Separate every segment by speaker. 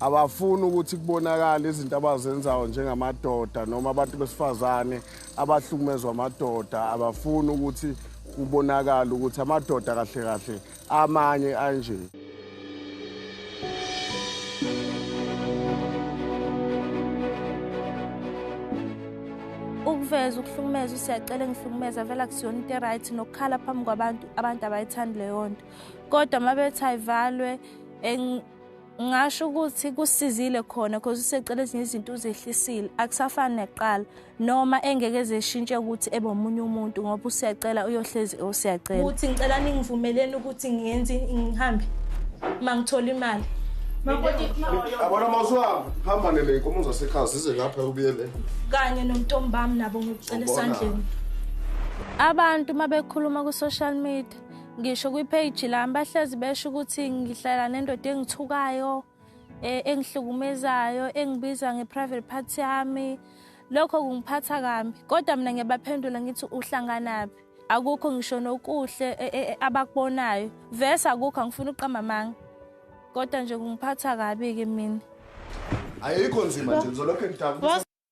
Speaker 1: abafuni ukuthi kubonakale izinto abazenzayo njengamadoda noma abantu besifazane abahlukumezwa amadoda abafuni ukuthi kubonakale ukuthi amadoda kahle kahle amanye anje
Speaker 2: ukuveza ukuhlukumeza usiyacela engihlukumeza vele akusiyona into eright nokukhala phambi kwabantu abantu abayithandi leyo nto kodwa uma bethi ayivalwe ngasho ukuthi kusizile khona cause usecela ezinye izinto uzehlisile akusafani nekuqala noma engeke zeshintshe ukuthi ebe omunye umuntu ngoba usiyacela uyohlezi usiyacela ukuthi ngicela ningivumeleni ukuthi ngiyenze ngihambe uma ngithola imali yabona
Speaker 1: uma usuhamba hamba nele inkomo zasekhaya zize lapha ubuyele kanye
Speaker 2: nomntombami nabo ngikucela esandleni abantu uma bekhuluma ku-social media ngisho kwi-page lami bahlezi besho ukuthi ngihlala nendoda engithukayo eh, engihlukumezayo engibiza nge-private part yami lokho kungiphatha kambi kodwa mina ngiyabaphendula ngithi uhlanganaphi akukho ngisho nokuhle eh, eh, abakubonayo vese akukho angifuni uqamba amanga kodwa nje kungiphatha kabi-ke mina ayikho
Speaker 1: nzima nje ngizolokhu ngidabukisa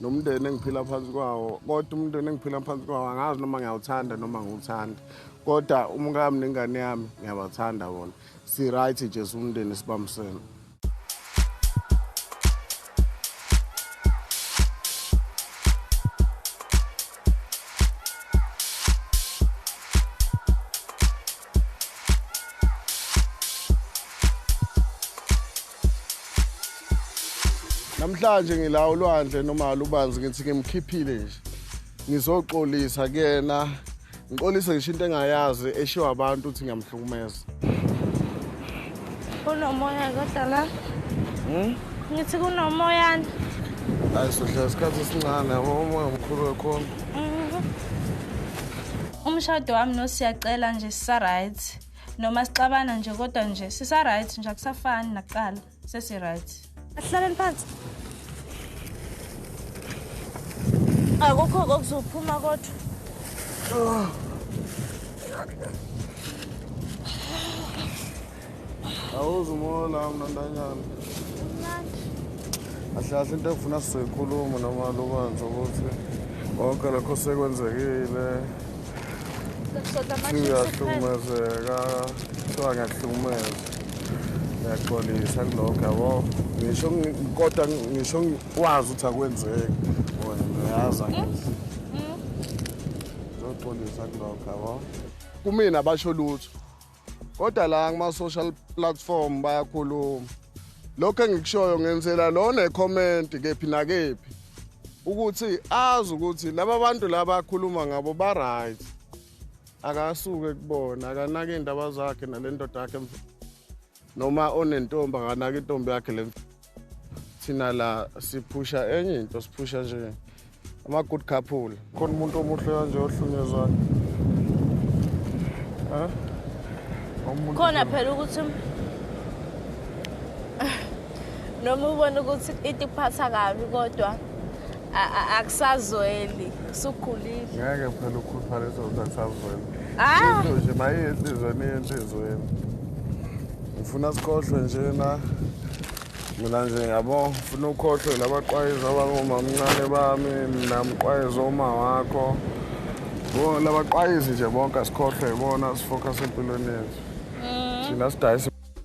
Speaker 1: nomndeni engiphila phansi kwawo kodwa umndeni engiphila phansi kwawo angazi noma ngiyawuthanda noma ngiwuthanda kodwa umkami nengane yami ngiyabathanda bona si-right jesu umndeni sibambisene namhlanje ngila ulwandle noma lubanzi ngithi ngimkhiphile nje ngizoxolisa kuyena ngixolise ngisho into engayazi eshiwa abantu ukuthi ngiyamhlukumeza
Speaker 2: kunomoya kodwa la hmm? ngithi kunomoyana hayi
Speaker 1: sohlala isikhathi esincane yabo umoya mkhulu wekhona
Speaker 2: mhm. umshado wami nosiyacela nje sisaright noma sixabana nje kodwa nje sisaright nje akusafani nakuqala sesiright asihlaleni phansi akukho kokuzophuma kodwa
Speaker 1: oh. awuze umoya la mna ntanyana ahle ahle into ekufuna sizoyikhuluma noma lubanzi ukuthi konke lokho sekwenzekile singahlukumezeka kuthiwa ngiyahlukumeza ngiyaxolisa kulokho yabo ngisho kodwa ngisho wazi ukuthi akwenzeki wona ngiyazi angizi ngizoxolisa kulokho yabo kumina basho lutho kodwa la kuma-social platform bayakhuluma lokho engikushoyo ngenzela lona ekhomenti kephi nakephi ukuthi azi ukuthi laba bantu laba akhuluma ngabo ba-right akasuke kubona akanake iy'ndaba zakhe nale ndoda yakhe noma onentombi akanake intombi yakhe le thina la siphusha enye into siphusha nje ama-good couple khona umuntu omuhle kanje ohlunyezwayo
Speaker 2: khona phela ukuthi noma ubona ukuthi into ikuphatha kabi kodwa akusazweli sukhulile ngeke phela
Speaker 1: ukhuluphala izokuthi akusazweli ah! into nje mayiye enhlizweni iye enhlizweni ngifuna sikhohlwe njena mina nje ngiyabo ngifuna ukhohlwe labaqwayiza abangomamncane bami mina mqwayiza uma wakho labaqwayizi nje bonke asikhohlwe ibona sifokhase empilweni yethu mm. thina sidayisa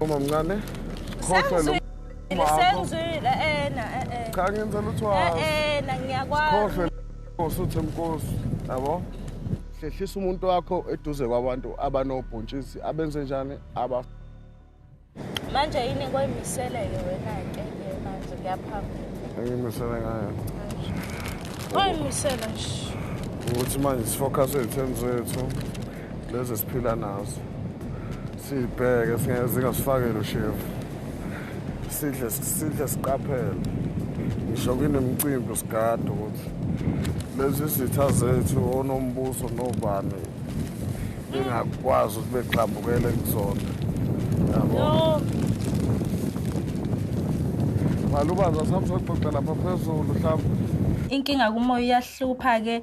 Speaker 1: Uma mncane. Khohlwa lo. Senzile
Speaker 2: ena eh eh.
Speaker 1: Cha ngenza lutho. Eh eh na ngiyakwazi.
Speaker 2: Khohlwa
Speaker 1: Nkosi uthi Nkosi, yabo? Hlehlisa umuntu wakho eduze kwabantu abanobhontshisi abenze njani aba
Speaker 2: Manje yini koyimiseleke wena ke manje kuyaphambili. Angimisele
Speaker 1: ngayo. Koyimisela
Speaker 2: nje. Ukuthi manje
Speaker 1: sifocus etheni zethu. lezi siphila nazo sibheke zingasifakele ushevu sidle sidle siqaphele ngisho kunemicimbi sigade ukuthi lezi zitha zethu onombuso nobani bengakwazi ukuthi begxambukele kuzona yabo malubaza samsoxoxa lapha phezulu mhlawumbe inkinga kumoya
Speaker 2: uyahlupha-ke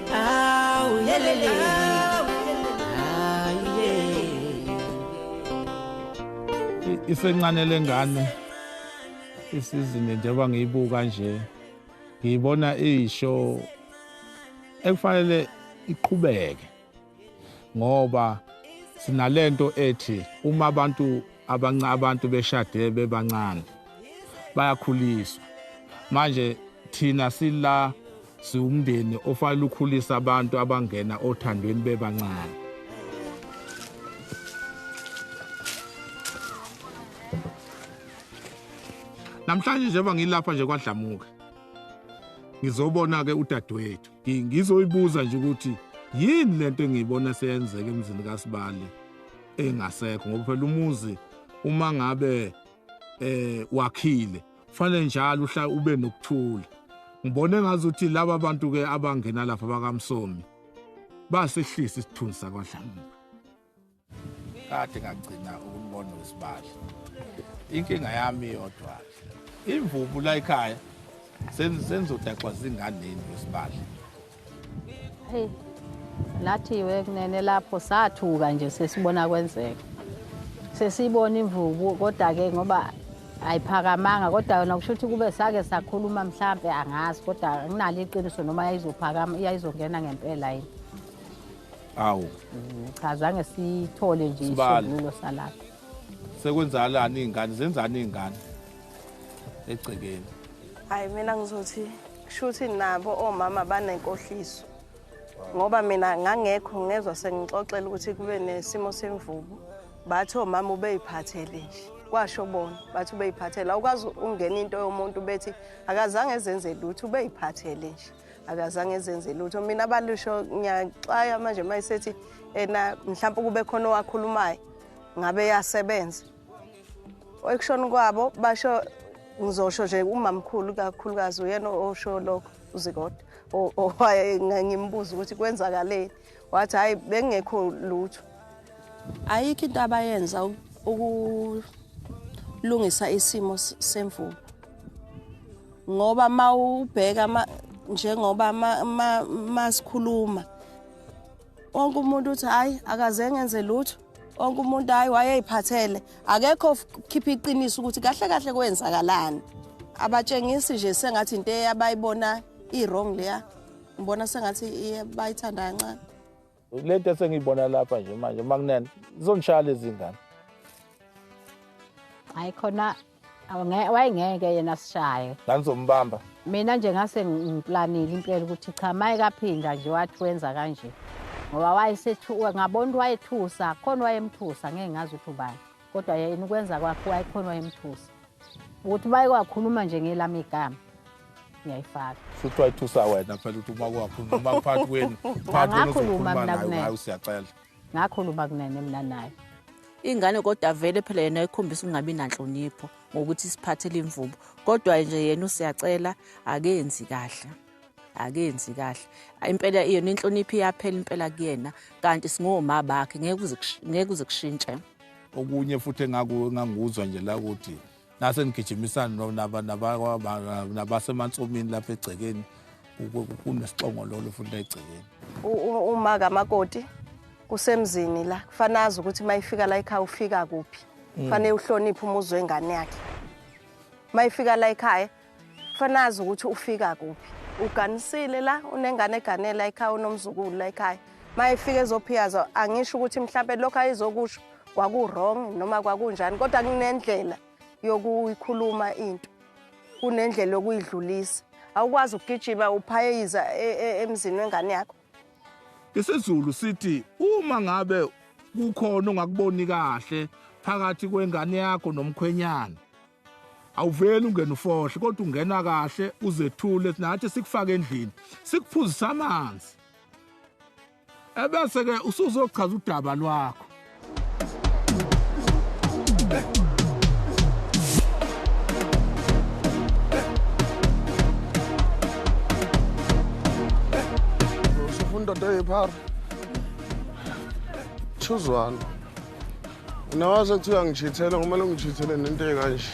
Speaker 3: isencane lengane isizini njengoba ngiyibuka nje ngiyibona iyisho ekufanele iqhubeke ngoba sinalento ethi uma abantu abanca abantu beshade bebancane bayakhuliswa manje thina sila siwumndeni ofanele ukhulisa abantu abangena othandweni bebancane namhlanje njengoba ngilapha nje kwadlamuka ngizobona-ke udadewethu ngizoyibuza nje ukuthi yini lento engiyibona seyenzeka emzini kasibali engasekho ngoba phela umuzi uma ngabe eh wakhile fanele njalo uhla ube nokuthula ngibone ngazi ukuthi laba bantu ke abangena lapha bakamsomi basehlisa isithunzi sakwadlamuka kade ngagcina ukumbona usibali inkinga yami yodwa imvubu la ekhaya senzodaxwa zinganeni usibali
Speaker 4: Hey. Nathi we kunene lapho sathuka nje sesibona kwenzeka. Sesibona imvubu kodwa ke ngoba ayiphakamanga kodwa yona kusho ukuthi kube sake sakhuluma mhlambe angazi kodwa nginalo iqiniso noma yayizophakama yayizongena ngempela yini.
Speaker 3: Awu. Mm, cha
Speaker 4: zange sithole nje isibulo salapha. Sekwenzalani
Speaker 3: izingane zenzani izingane egcekeni. Hayi
Speaker 5: mina ngizothi Kushuthi nabo omama banenkohliso. Ngoba mina ngangekho ngezwe sengixoxela ukuthi kube nesimo semvubu. Bathi omama ubeyiphathele nje. Kwasho bona bathi ubeyiphathele. Awukwazi ungena into yomuntu bethi akazange ezenze lutho ubeyiphathele nje. Akazange ezenze lutho. Mina balusho ngiyaxaya manje mayisethi ena mhlawumbe kube khona owakhulumayo ngabe yasebenza. ekushona kwabo basho ngizosho nje umamkhulu kakhulukazi uyena osho lokho uzikodwa owaye ngimbuza ukuthi kwenzakaleni wathi hhayi bengekho lutho ayikho into abayenza ukulungisa isimo semvubu ngoba uma ubheka njengoba masikhuluma ma, ma wonke umuntu uthi hayi akaze ngenze lutho wonke umuntu hayi wayeyiphathele akekho khipha iqiniso ukuthi kahle kahle kwenzakalani abatshengisi nje sengathi into eyabayibona i-wrong leya ngibona sengathi bayithanda kancane le nto
Speaker 3: esengiyibona lapha nje manje makunene zizongishaya lezi ngane
Speaker 4: hayi khona wayengeke yena asishaye nganizombamba
Speaker 3: mina nje ngase
Speaker 4: ngiplanile impela ukuthi cha maye kaphinda nje wathi wenza kanje ngoba wayesethu ngabona ukuthi wayethusa khona wayemthusa ngeke ngazi ukuthi ubani kodwa yena ukwenza kwakhe wayekhona wayemthusa ukuthi baye kwakhuluma nje ngelami igama ngiyayifaka futhi wayithusa
Speaker 3: wena phela ukuthi uma kwakhuluma phakathi kwenu phakathi kwenu uzokhuluma nayo ngayo
Speaker 4: siyacela
Speaker 3: Ngakhuluma kunene
Speaker 4: mina naye. Ingane kodwa
Speaker 6: vele phela yena ikhombisa ukungabi nanhlonipho ngokuthi isiphathele imvubu. Kodwa nje yena usiyacela akenzi kahle. Akenzi kahle. Impela yona inhlonipho iyaphela impela kuyena kanti singoma bakhe ngeke uze ngeke uze kushintshe. Okunye futhi
Speaker 3: engaku enganguzwa nje la ukuthi nasenigijimisana nabasemantsomini lapha egcekeni kunesixongololo futhi egcekeni uma
Speaker 5: kamakoti usemzini la kufanele azi ukuthi uma ifika la ekhaya ufika kuphi mm. kufanele uhloniphe umuzi wengane yakhe uma ifika la ekhaya Fanazi ukuthi ufika kuphi. Uganisile la unengane eganela ekhaya unomzukulu la ekhaya. Mayefika ezophiyaza angisho ukuthi mhlawumbe lokho ayizokusho kwaku-wrong noma kwakunjani kodwa kunendlela yokuyikhuluma into kunendlela yokuyidlulisa awukwazi ukugijima uphayeyiza e, e, emzini wengane yakho IsiZulu
Speaker 3: sithi uma ngabe kukhona ongakuboni kahle phakathi kwengane yakho nomkhwenyana awuveli ungena ufohle kodwa ungena kahle uzethule nathi sikufake endlini sikuphuzisa amanzi ebese ke usuzochaza udaba lwakho
Speaker 1: indoda eyiphara chuzwana nawase kuthiwa ngijithele kumele ngijithele nento ekanje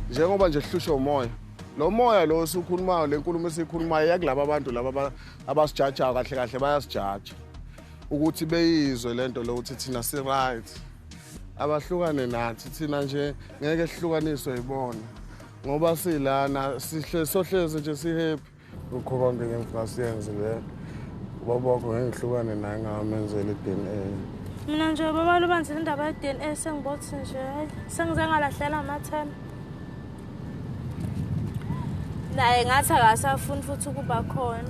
Speaker 1: njengoba nje hlushwa umoya lo moya lo osukhulumayo le nkulumo esiyikhulumayo yakulaba abantu laba abasijajayo kahle kahle bayasijaja ukuthi beyizwe le nto lokuthi thina si-right abahlukane nathi thina nje ngeke sihlukaniswe yibona ngoba silana sohlezi nje si-happy ukhoba ngeke ngifasiyenze le ubaba wakho ngeke ngihlukane naye ngamenzela i-d n a mina nje
Speaker 2: baba lubanzile indaba ye-d n a sengibothi nje sengize ngalahlela amathemba naye ngathi akasafuni futhi ukuba khona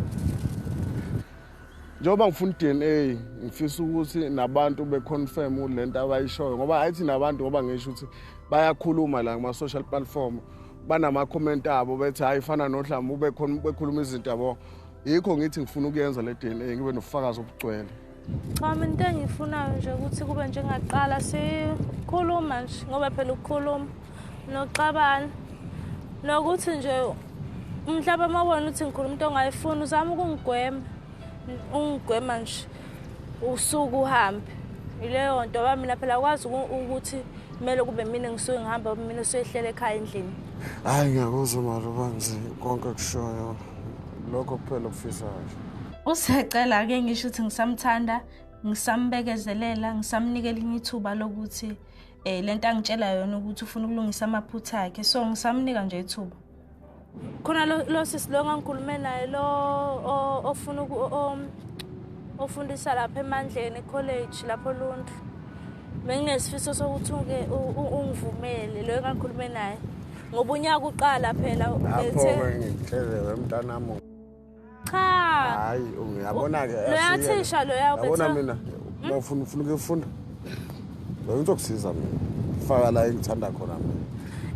Speaker 1: njengoba ngifuna i-dna ngifisa ukuthi nabantu be-confirm le nto abayishoyo ngoba hayi thina abantu ngoba ngisho ukuthi bayakhuluma la kuma-social platform banama-comment abo bethi hhayi fana nodlama ubekhuluma izinto yabo yikho ngithi ngifuna ukuyenza le dna ngibe nobufakazi obugcwele Cha mina into
Speaker 2: engiyifunayo nje ukuthi kube njengaqala sikhuluma nje ngoba phela ukukhuluma noxabana nokuthi nje mhlawumbe uma ubona ukuthi ngikhuluma into ongayifuni uzama ukungigwema ungigwema nje usuku uhambe yileyo nto ba mina phela kwazi ukuthi kumele kube mina ngisuke ngihamba mina usuyehlele ekhaya endlini hhayi ngiyakuzwa
Speaker 1: mali ubanzi konke kushoyo lokho kuphela okufisayo usecela
Speaker 2: ke ngisho ukuthi ngisamthanda ngisambekezelela ngisamnika elinye ithuba lokuthi um le nto angitshela yona ukuthi ufuna ukulungisa amaphutha akhe so ngisamnika nje ithuba khona lo sisi lo ngangikhulume naye lo ofuna ofundisa lapha emandleni ekholeji lapho lundlu benginesifiso sokuthi uke ungivumele loyo engangikhulume naye ngoba unyaka uqala phela lapho-ke ngikuhlelele
Speaker 1: mntanami cha
Speaker 2: hayi
Speaker 1: uyabona ke loya thisha loya
Speaker 2: ubethe yabona mina hmm? uma
Speaker 1: ufuna ufuna ukufunda loyo uzokusiza mina faka la engithanda khona mina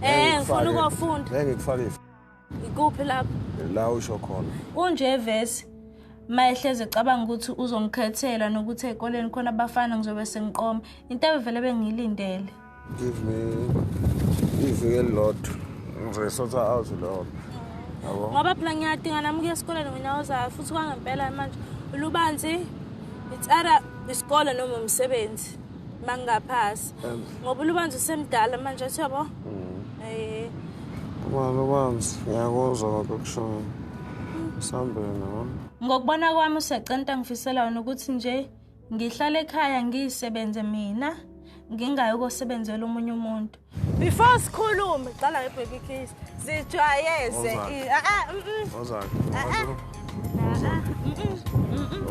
Speaker 1: eh ngifuna ukufunda
Speaker 2: ngeke ngikufake
Speaker 1: ikuphi
Speaker 2: lapho la usho khona
Speaker 1: kunje vesi
Speaker 2: mayehleze cabanga ukuthi uzongikhethela nokuthi ekoleni khona abafana ngizobe sengiqoma into ebevele bengiyilindele give me
Speaker 1: iviki elilodwa ngizoyisotha out leyo yabo ngoba phela ngiyadinga
Speaker 2: nami ukuya esikoleni wena uzayo futhi kwangempela manje lubanzi it's either isikole noma umsebenzi uma ngingaphasi ngoba ulubanzi usemdala manje athi yabo mm. eh uma
Speaker 1: lubanzi ngiyakuzwa ngakho kushoyo sambeni yabo ngokubona kwami
Speaker 2: usecenta ngifisela wena ukuthi nje Ngihlale ekhaya ngisebenze mina ngingayi ukosebenzela omunye umuntu. Before sikhulume qala nge baby kiss. Zijwayeze. Ah ah. Ozak. Ah ah.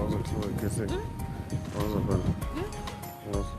Speaker 2: Ozak kuthiwa kese. Ozak bana. Ozak.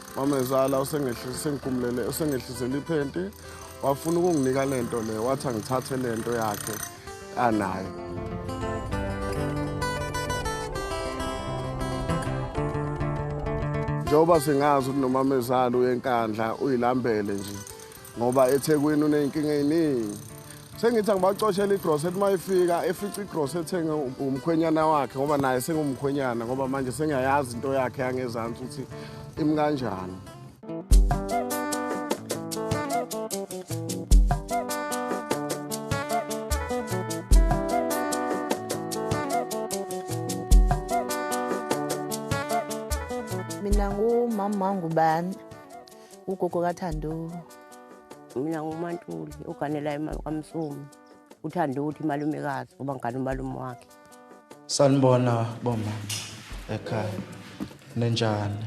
Speaker 1: mamezala usengigumulele usengehlisele iphenti wafuna ukunginika le nto le wathi angithathe le nto yakhe anayo njengoba singazi ukuthi nomamezala uyenkandla uyilambele nje ngoba ethekwini uney'nkinga ey'ningi sengithi angibacoshela igrosa ethi uma ifika efica igrosa ethenge umkhwenyana wakhe ngoba naye sengumkhwenyana ngoba manje sengiyayazi into yakhe yangezansi ukuthi imi kanjani
Speaker 6: mina ngumama wangubani ugogo kathando mina
Speaker 7: ngumantuli uganela imali kamsumi uthande ukuthi imalumekazi ngoba ngigane umalume wakhe sanibona
Speaker 8: boma ekhaya nenjani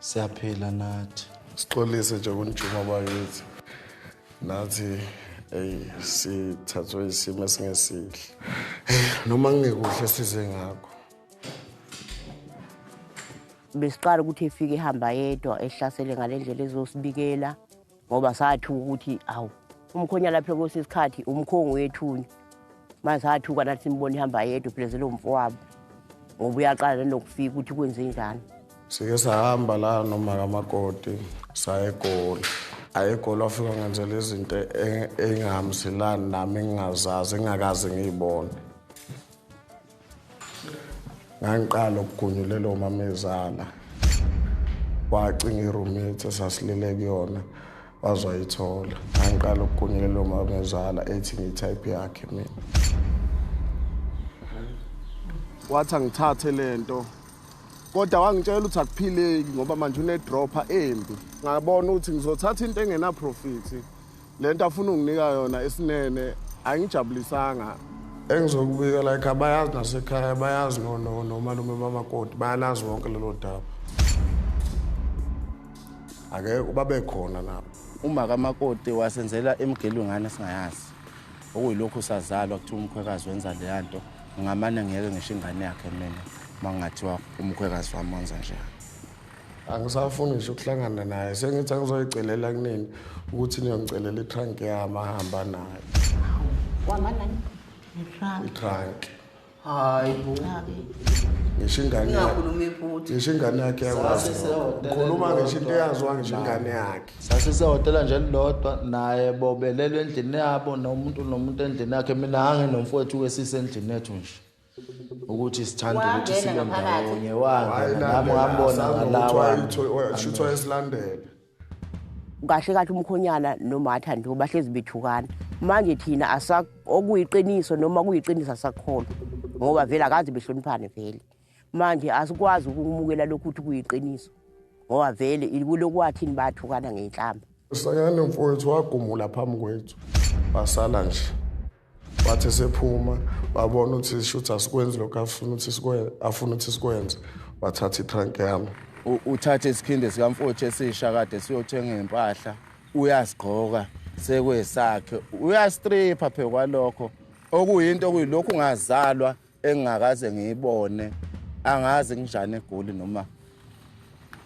Speaker 8: siyaphila nathi sixolise nje
Speaker 1: kunjuma bakithi nathi eyi sithathwe isimo esingesihle noma ngingekuhle size ngakho
Speaker 7: Besiqala ukuthi efike ehamba yedwa ehlasele ngale ndlela ezosibikela ngoba sathuka ukuthi awu umkhonya lapho kwesinye isikhathi umkhongo wethunya manje sathuka nathi simbona ihamba yedwa uphilezela umfo wabo ngoba uyaqala nenokufika ukuthi kwenze njani sike sahamba
Speaker 1: la noma kamakoti saye egoli ayegoli wafika ngenzela izinto engingahambiselani nami engingazazi engingakaze ngiyibone ngangiqala ukugunyulela omamezala wacinga iroommate esasilele kuyona wazwayithola ngangiqala ukugunyulela omamezala ethi ngiyitype yakhe mina wathi angithathe le nto kodwa wangitshela ukuthi akuphileki ngoba manje unedropha embi ngabona ukuthi ngizothatha into engenaprofit Le nto afuna unginika yona isinene angijabulisanga. Engizokubika like abayazi nasekhaya bayazi nomalume bamakoti bayalazi wonke lelo daba. Ake ubabe khona nabo. Uma kamakoti
Speaker 9: wasenzela emgelwe ngane singayazi. Okuyilokhu sazalwa kuthiwa umkhwekazi wenza leya nto ngingamane ngiyeke ngisho ingane yakhe mina uma kungathiwa umkhwekazi wami wenza njani.
Speaker 1: angisafuni ngisho ukuhlangana naye sengithi angizoyicelela kunini ukuthi niyongicelela itrank yami ahamba nayo
Speaker 7: wamanani
Speaker 1: itrank hayi
Speaker 8: bo ngisho
Speaker 1: ingane ngisho
Speaker 7: ingane yakhe
Speaker 1: yakhuluma ngisho into eyaziwa ngisho ingane yakhe sasisehhotela nje
Speaker 8: lilodwa naye bobelelwe endlini yabo nomuntu nomuntu endlini yakhe mina anginomfowethu wesise endlini yethu nje ukuthi sithanda ukuthi Wangena sibe ngaphakathi. ndawonye wangena nami ngambona ngalawa shuthi wayesilandele
Speaker 7: kahle kahle umkhonyana nomatha nje bahlezi bethukana manje thina asa okuyiqiniso noma kuyiqiniso asakholwa ngoba vele akazi behloniphane vele manje asikwazi ukumukela lokhu ukuthi kuyiqiniso ngoba vele kulokwathini bathukana ngenhlamba sanyane mfowethu
Speaker 1: wagumula phambi kwethu basala nje wathi esephuma babona ukuthi shuthi asikwenzi lokhu afuna ukuthi sikwenze afuna ukuthi sikwenze wathatha itrank yami uthathe
Speaker 9: isikhindi sikamfowethu esisha kade siyothenga impahla uyasigqoka sekwesakhe uyastripha phekwalokho okuyinto okuyilokhu ungazalwa engingakaze ngiyibone angazi nginjani egoli noma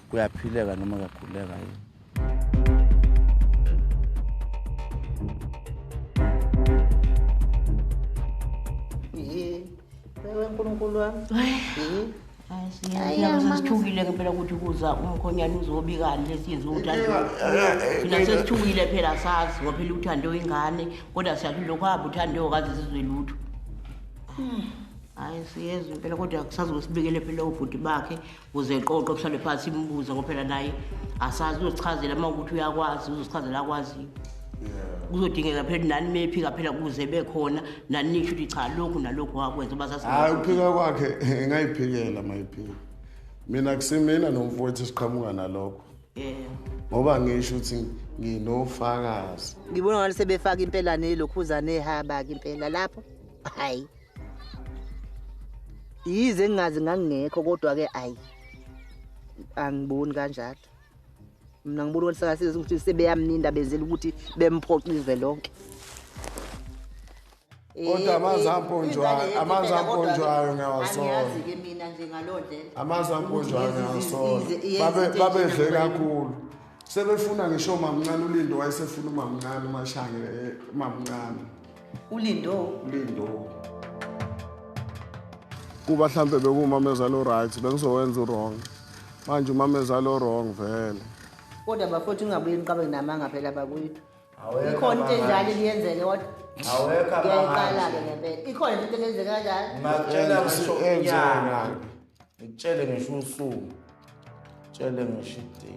Speaker 9: kuyaphileka noma kuyaguleka yini
Speaker 7: Wewe nkulunkulu wami. sesithukile ngempela ukuthi kuza umkhonyana uzobikani lesiyenze uthina sesithukile phela sazi ngoba phela uthande ingane kodwa siyathi lokho hamba uthande okaze sizwe lutho hmm. hayi siyezwe impela kodwa kusazosibekele phela ubhuti bakhe kuze qoqo kuhlale phansi imbuza ngoba phela naye asazi uzosichazela uma ukuthi uyakwazi uzosichazela akwaziyo kuzodingeka phela nani mephika phela kuze bekhona nani nisho ukuthi cha lokhu nalokhu wakwenza hayi ukuphika kwakhe
Speaker 1: ngayiphikela mayiphika mina kusimina nomfowethu siqhamuka nalokho ngoba ngisho ukuthi nginofakazi ngibona ngathi
Speaker 10: sebefaka impela nelokhuza nehaba-ke impela lapho hayi yize ngingazi ngangingekho kodwa-ke ayi angiboni kanjalo mina ngibona ukuthi sakasiza ukuthi sebeyamninda benzela ukuthi bemphoxe izwe lonke
Speaker 1: kodwa eh, amanzi eh, amponjwayo amanzi amponjwayo ngiyawasola
Speaker 10: amanzi amponjwayo
Speaker 1: ngiyawasola babedle kakhulu sebefuna ngisho mamncane ulindo wayesefuna umamncane umashangele eh, umamncane ulindo
Speaker 10: ulindo
Speaker 1: kuba mhlampe bekumamezala o-right bengizowenza u-wrong manje
Speaker 10: umamezala
Speaker 1: o-wrong
Speaker 10: vele kodwa bafowethu
Speaker 1: ungabuye
Speaker 10: niqabe namanga phela
Speaker 1: bakwethu
Speaker 10: ikhona into enjalo eliyenzeke kodwa awekho-ke ngempela ikhona into
Speaker 8: elenzeke kanjani ngitshele ngisho usuku tshele ngisho idate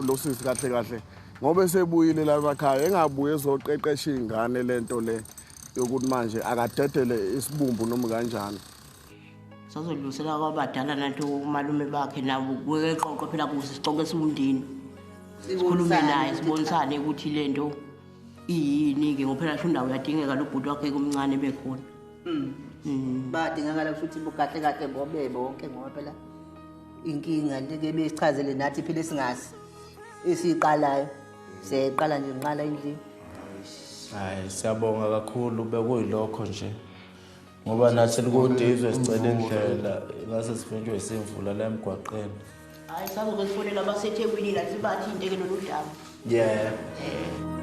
Speaker 8: lo sisi
Speaker 1: kahle kahle ngoba esebuyile labakhaya engabuye ezoqeqesha iy'ngane le nto le yokuthi manje akadedele isibumbu noma kanjani
Speaker 7: sazodlulisela kwabadala nanto umalume bakhe nabo kuke eqoqo phela kuze sicoke esiwundini sikhulume naye sibonisane ukuthi le nto iyini-ke ngophela sho indawo yadingeka lo bhuti wakhe kumncane bekhona Mm. Mm. Badingakala
Speaker 10: ukuthi bukahle kahle bobe bonke ngoba phela inkinga leke besichazele nathi phela singazi esiqalayo seqala nje nqala endlini.
Speaker 8: Hayi siyabonga kakhulu bekuyilokho nje. Ngoba nathi likude izwe sicela indlela ngase sifunjwe isimvula la emgwaqeni. Hayi sabe
Speaker 7: ukufonela abaseThekwini la sibathi into ke lolu daba. Yeah. yeah.